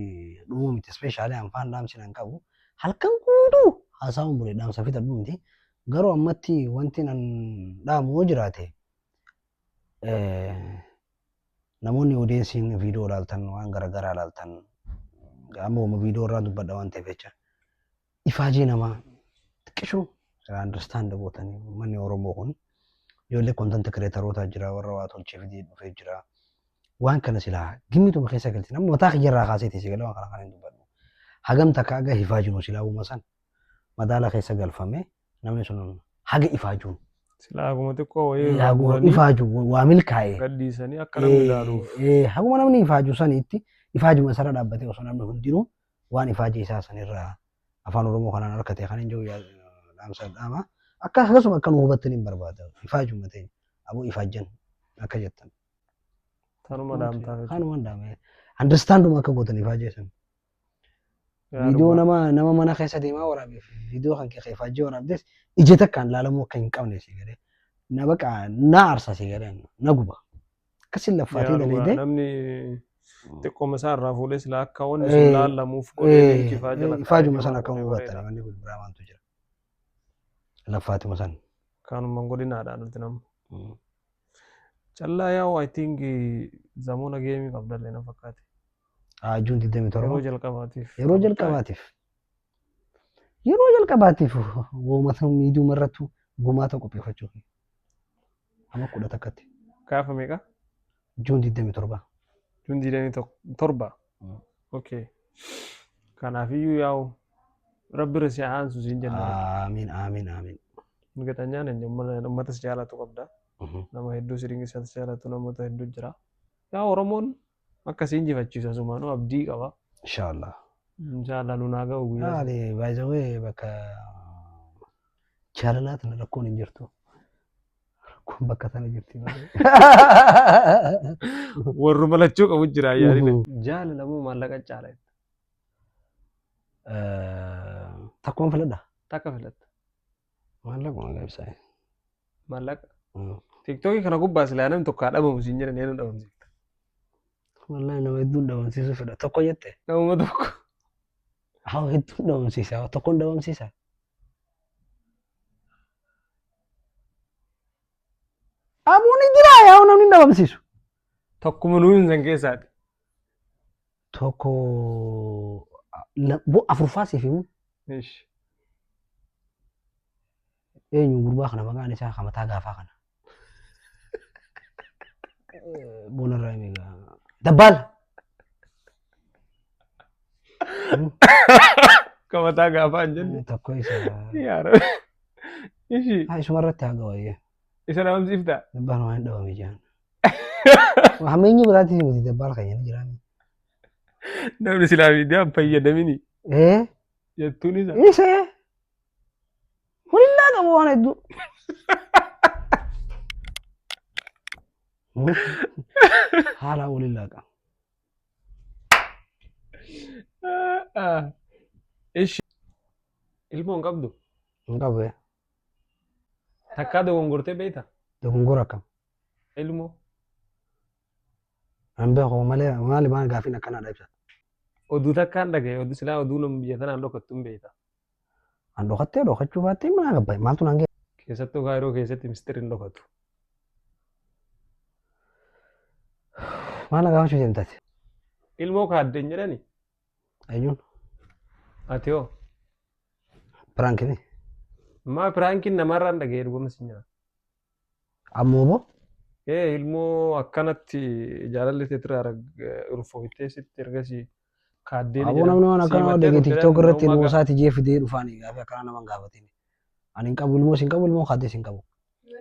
dhumuu miti. Ispeeshaalii anfaan dhaamsi nan qabu. Halkan guutuu haasawuun bule dhaamsa fixadhu miti. Garuu ammatti wanti nan dhaamu yoo jiraate eh, namoonni odeensiin viidiyoo ilaaltan waan garaagaraa ilaaltan amma uma viidiyoo irraa dubbadha waan ta'eef jecha ifaajee namaa xiqqishuu irraa understand gootanii uummanni Oromoo kun ijoollee content creatorootaa jira warra waa tolchee fidee dhufee jira waan kana silaa gimmituma keessa galchin amma mataa kiyya irraa kaasee teessee galee waan kana kan hin dubbadhu hagam takka aga hifaajinu silaa uuma san madaala keessa galfame namni sun haga ifaajuun Silaa haguma xiqqoo wayii irraa haguma muranii ifaaju waa milkaa'e gadhiisanii akka namni ilaaluuf. Eh, eh, haguma namni ifaaju saniitti ifaajuma isarra dhaabbatee osoo namni hundinuu waan ifaajee isaa san irraa afaan Oromoo kanaan arkate kan hin jiru dhaamsa dhaama. Akka akkasuma akka nu hubattan hin barbaada. Ifaajuma ta'e aboo ifaajjan akka jettan. Tanuma dhaamtaa jechuudha. Kanuma hin dhaame. Understanduma akka gootan ifaajee san. Viidiyoo nama nama mana keessa deemaa waraabeef viidiyoo kan kee ifaajee waraabdes ija takkaan laalamuu akka hin qabne si galee. Na baqa na aarsa si galee na guba. Akkasiin laffaatii Yaa dhugaa daleedee. namni xiqqooma isaa irraa fuudhee silaa akka wanni sun laallamuuf godhee leenci ifaa jala Ifaajuma sana akka kaa'ee hubattan wanni kun biraa maaltu jira. Laffaatuma sana. Kaanuma godinaadhaan nuti nama. Callaa yaa'u I think zamoona geemii qabdallee na fakkaate. Haajuun 27. Yeroo jalqabaatiif. yeroo jalqabaatiif yeroo jalqabaatiif uummata miidiyuma irratti gumaata qopheeffachuuf Amma kudha takkatti. Gaafa meeqa? Juun 27. Juun 27. Mm. Okay. Kanaafiyyuu yaa'u rabbi irra si haa aansu siin jenna. Aamiin aamiin aamiin. Migatanyaan hin jedhamu ummata si jaalatu qabda. Mhm. Nama hedduu si dinqisiifatu si jaalatu namoota hedduu jira. Yaa Oromoon Akka si injifachiisu asumaanuu abdii qaba. Inshallah. Inshallah nu naa ga'u guyyaa. Maali by the way bakka jaalalaa tana rakkoon hin jirtu. Rakkoon bakka tana jirti malee. Warru malachuu qabu jira yaadina. Jaalala moo maallaqa caala? Takkumaan filadha. Takka filatta. Maallaqa malee ibsaa. Maallaqa. Tiiktookii kana gubbaa silaa namni tokko haa dhabamu siin jedhan eenyu dhabamsiifta. Wallahi nama hedduun dhabamsiisuu fedha. Tokko jette. Namuma tokko. Haa hedduun dhabamsiisa. Haa tokkoon dhabamsiisa. Abuun ni jira yaa namni hin dhabamsiisu. Tokkuma nuyi hin san keessaati. Tokko la- bo- afurfaa siif himu Ish. eenyu gurbaa kana maqaan isaa kan mataa gaafaa kana. Eh, Boonarraa himi egaa. Dabbaala. Qabataa gaafaa hin jenne. Tokko isa. Yaa Rabbi. Ishi. Ah, Isuma irratti haa gawaayee. Isa dhabamsiifta. Dabbaan waan hin dhabame jaan. Hameenyi biraatiif miti dabbaan keenya ni jiraan. Namni silaa miidiyaan fayyadamini Ee jettuun isa. isa hulillaa qabu waan hedduu. Haalaa hulillaa qabu. Ah, ah. Ishi. Ilmoo hin qabdu. Hin qabu. Takkaa dogongortee beekta? Dogongora akkam? Ilmoo. An beeku malee maali maal gaafiin akkanaadha ibsa. Oduu takkaan dhagaye oduu silaa oduu nama biyya tanaan dhokattu hin beekta. An dhokattee dhokachuu baattee mana gabbaye maaltu naan ga'e? Keessattuu kaayiroo keessatti mistiri hin dhokatu. Maal na gaafachuu deemtaati? Ilmoo kaadden jedhani Ayun. Ati hoo? Prank ni. Maa piraankiin namarraa hin dhaga'e dhugama si nyaata. Ammoo boo. Ee ilmoo akkanatti jaalalli teetiraa urfooftee sitti ergasii kaaddeen Aboo namni waan akkana waan dhagee tiktok irratti ilmoo isaati jee fidee dhufaan gaafi akkana naman gaafatin. Ani hin qabu ilmoo sin qabu ilmoo kaaddees hin qabu.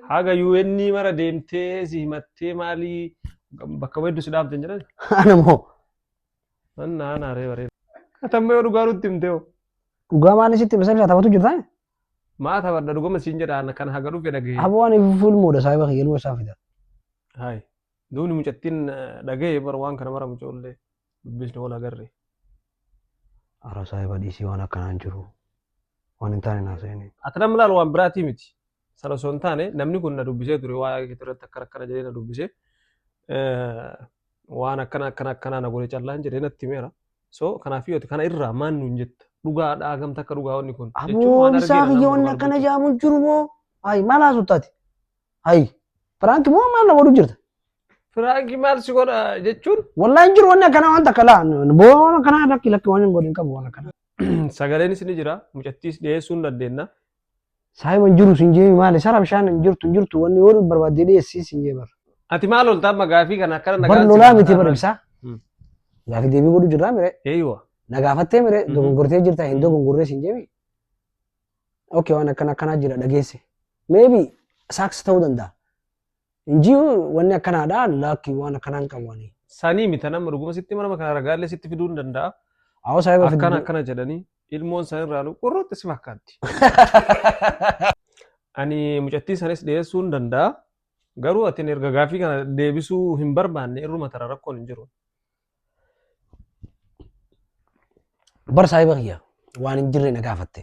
Haga UN mara deemtee si himattee maalii bakka weeddu si dhaabdan jedhan. Ana moo. Anna anaa ree baree. Atamma yoo dhugaa nutti himte hoo. Dhugaa maal isitti masa ibsaa taphatu jirtaa? Maa taphadha dhugama siin jedha ana kan haga dhufe dhagahee. Aboo ani fuul mooda saahiba kiyya ilma isaa fida. Haay. Duuni mucattiin dhagahee bar waan kana mara mucoollee dubbisne wal agarre. Ara saahiba dhiisii waan akkanaan jiru. Waan hin taane naa seeni. Ati nama laal waan biraatii miti. Sana osoo hin taane namni kun na dubbisee ture waa'ee keetii irratti akkana akkana jedhee na dubbisee eh, waan akkana akkana akkanaa na godhe callaan jedhee natti himeera. So kanaaf yoo ta'e kana irraa maal nuun jetta? Dhugaadhaa gamta akka dhugaa wanni kun. Jechuun Aboo waan isaa argeera kiyyoonni namoota akkana dubbachuu. jaamu jiru moo? Hayi maal haasoftaati? Hayi piraank moo maal na godhu jirta? Firaanki maal si godha jechuun Wallahi hin jiru wanni akkanaa waan takka laa. Boo waan akkanaa lakki lakki waan hin godhin qabu waan akkanaa. sagaleen isin jira mucattiis dhiyeessuu hin dandeenya. Saayima hin jiru sin jeemi maali sara bishaan hin jirtu hin jirtu wanni yoo barbaadde dhiyeessii sin jee bar. Ati maal olta amma gaafii kana akkana nagaan Bar si lolaa miti bar gaafataa ibsaa. Mm. Gaafi deebii godhu jirraa mire. maal? Eeywa. Na gaafattee mire Mhm. dogongortee jirta hin Mhm. dogongorree sin jeemi. Okay waan akkana akkanaa jira dhageesse. Maybe saaks ta'uu danda'a. Hin jiru wanni akkanaadha laakki waan akkanaa hin qabu ani. Sanii mita nama dhuguma sitti hima nama kana ragaalee sitti fiduu hin danda'a. Awwa saahiba fiduu. Akkana akkana jedhanii ilmoon san irraa nu qurruutti si fakkaatti. Ani mucattii sanis dhiyeessuu hin danda'a. Garuu ati erga gaaffii kana deebisuu hin barbaanne irruma tara rakkoon hin jiru. Bar saahiba kiyya waan hin jirre na gaafatte.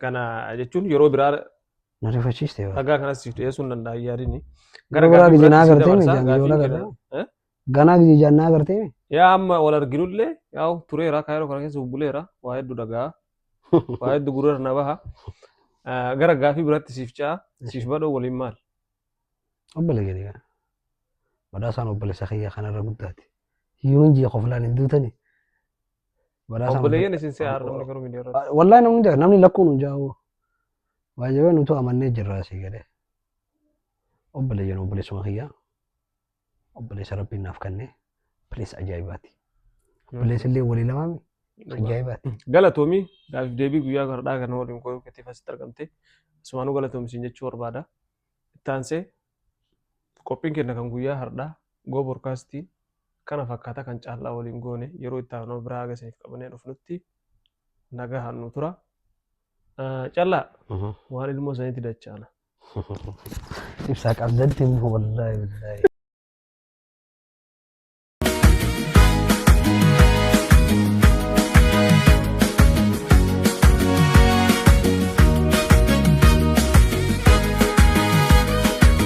Kana jechuun yeroo biraa Na rifachiiste yoo. ragaa kanas siif dhiyeessuu hin danda'a yaadini. Gara biraa gaaffii gijinaa biraatti si agartee mi? dabarsa, Jaanjii gaaffiin wal agartee keenya- Eh? Ganaa gijijaan na agartee mi? Yaa amma wal arginullee yaa'u tureera kaayiroo kana keessa bubbuleera waa hedduu dhagaa waa hedduu gurra na baha. Ah, Gara gaaffii biraatti siif ce'a siif badhoo waliin maal? Obbole gadi gaa. Badhaasaan obboleessa kiyya kanarra guddaati. Hiyyuun ji'a koflaan hin duutani. Badhaasa kana Obboleeyyan isin si haadha namni garuu miidiyaa irratti. Wallahi namni jira namni lakkuun hin jaa'u. Waa jabee nutu amannee jirra asii galee. Obboleeyyan obboleessuma kiyyaa. Obboleessa rabbiin naaf kennee. Bileessa ajaa'ibaati. Bileessa illee walii lamaami. Ajaa'ibaati. Galatoomi gaafif deebii guyyaa gardhaa kana waliin goyuu keetiif asitti argamte. Asumaanuu galatoomi siin jechuu barbaada. Itti aansee Qophiin kenna kan guyyaa hardhaa Go Broadcast kana fakkaata kan caal'aa waliin goone yeroo itti aanoo biraa haga isiniif qabannee dhufnutti nagahaan nu tura. Callaa waan ilmoo sanitti dachaana. Ibsaa qabdatti immoo wallaahi billaahi.